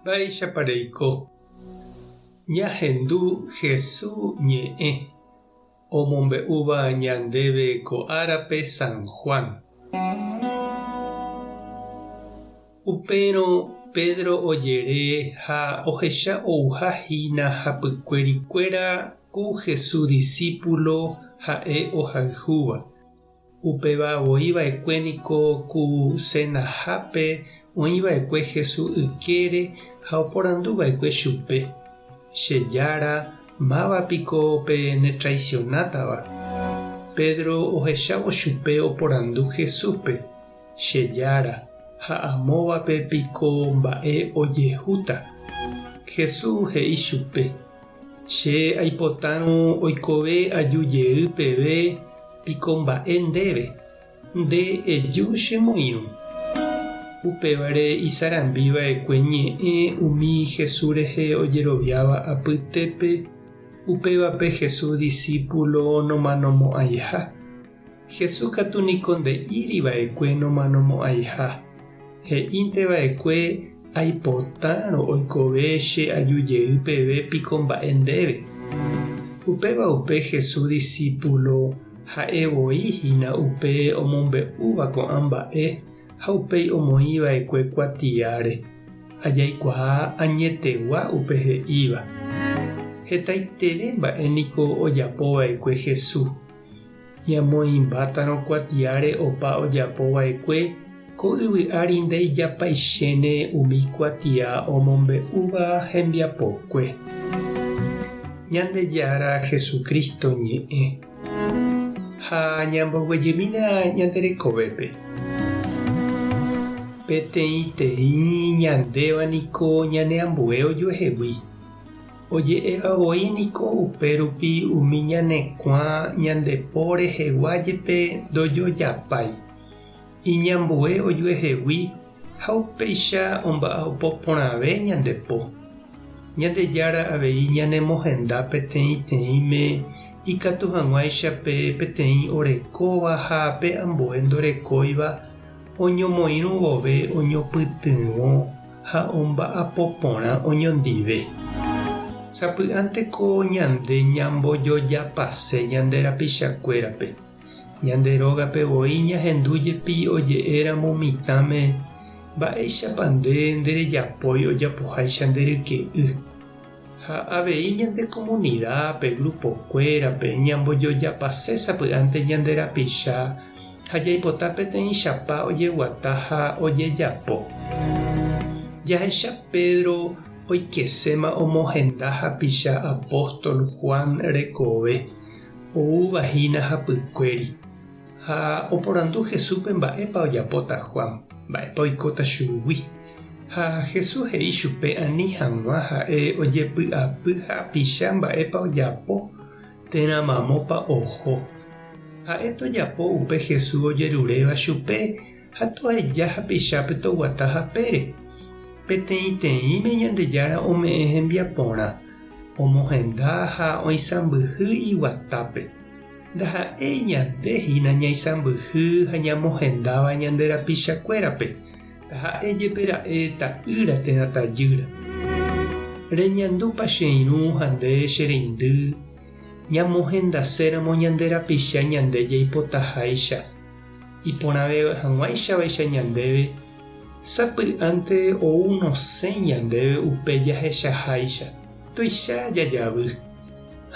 Mba'éichapa reiko ñahendu Hesu ñe'ẽ omombe'úva ñandéve ko árape San Juan? Upérõ Pedro ojere ha ohecha ouha hína hapykuérikuéra ku Hesu disípulo ha'e ohayhúva. Upéva voi va'ekue niko ku senahápe oĩ va'ekue Hesu ykére ha oporandu va'ekue chupe, Che Jára, máva piko pe netraisionátava? Pedro ohechávo chupe oporandu Jesúspe, Che Jára, ha amóvape piko mba'e ojehúta? Jesús he'i chupe, Che aipotárõ oikove aju jey peve piko mba'e ndéve, nde eju che moirũ. Upévare isarambi va'ekue ñe'ẽ umi Jesús rehe ojeroviáva apytépe, upévape Jesús disípulo nomanomo'ãiha. Jesús katu niko nde'íri va'ekue nomanomo'ãiha. He'ínte va'ekue, Aipotárõ oikove che aju jey peve piko mba'e ndéve. Upéva upe Jesús disípulo ha'e voi hína upe omombe'úva ko'ã mba'e ha upéi omoĩ va'ekue kuatiáre. Ajaikuaa añetegua upe he'íva. Hetaiterei mba'e niko ojapo va'ekue Jesús. Ñamoĩmbátarõ kuatiáre opa ojapo vaekue, ko yvy ári ndeijapaichéne umi kuatia omombe'úva hembiapokue. Ñandejára Jesucristo ñe'ẽ. Ha ñamboguejymína ñande rekovépe. Peteĩteĩ ñandéva niko ñane ambue ojuehegui. Oje'éva voi niko upérupi umi ñanekuã ñande po rehegua jepe ndojojapái. Iñambue ojuehegui ha upéicha omba'apo porãve ñande po. Ñandejára avei ñanemohenda peteĩteĩme ikatu hag̃uáicha pe peteĩ orekóva ha pe ambue ndorekóiva oñomoirũ vove oñopytyvõ ha omba'apo porã oñondive. Sapy'ánteko ñande ñambojojapase ñande rapichakuérape, ñande rógape voi ñahendu jepi oje'éramo mitãme, Mba'éichapa nde nderejapói ojapoháicha nde ryke'y? Ha avei ñande komunida, pe grupokuérape, ñambojojapase sapy'ánte ñande rapicha ha jaipota peteĩchapa ojeguata ha ojejapo. Jahecha Pedro oikeséma omohenda hapicha apóstol Juan rekove, oúva hína hapykuéri. Ha oporandu Jesúspe mba'épa ojapóta Juan, mba'épa oikóta chugui. Ha Jesús he'i chupe ani hag̃ua ha'e ojepy'apy ha apicha mba'épa ojapo térã mamópa oho. Ha'e tojapo upe Jesús ojeruréva chupe ha toheja hapichápe toguata hapére. Peteĩteĩme Ñandejára ome'ẽ hembiaporã, omohenda ha oisãmbyhy iguatápe. Ndaha'éi ñande hína ñaisãmbyhy ha ñamohendáva ñande rapichakuérape, taha'e jepe ra'e ta'ýra térã tajýra. Reñandúpa che irũ ha nde che reindy ñamohendaséramo ñande rapicha ñande jaipotaháicha? Iporãve hag̃uáichavaicha ñandéve, sapy'ánte ou nosẽ ñandéve upe jahechaháicha, tuicha jajavy.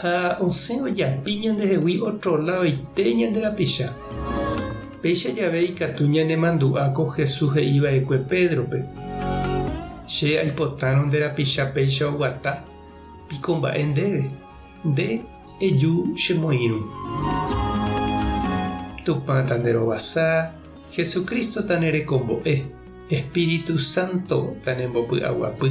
Ha osẽ ojapi ñandehegui ótro ladoite ñande rapicha. Péicha jave ikatu ñanemandu'a ko Jesús he'i va'ekue Pédrope, Che aipotárõ nde rapicha péicha oguata, piko mba'e ndéve, nde eju che moĩrũ. Tupã ta nde rovasa, Jesucristo ta ne rekombo'e, Espíritu Santo ta ne mbopy'aguapy.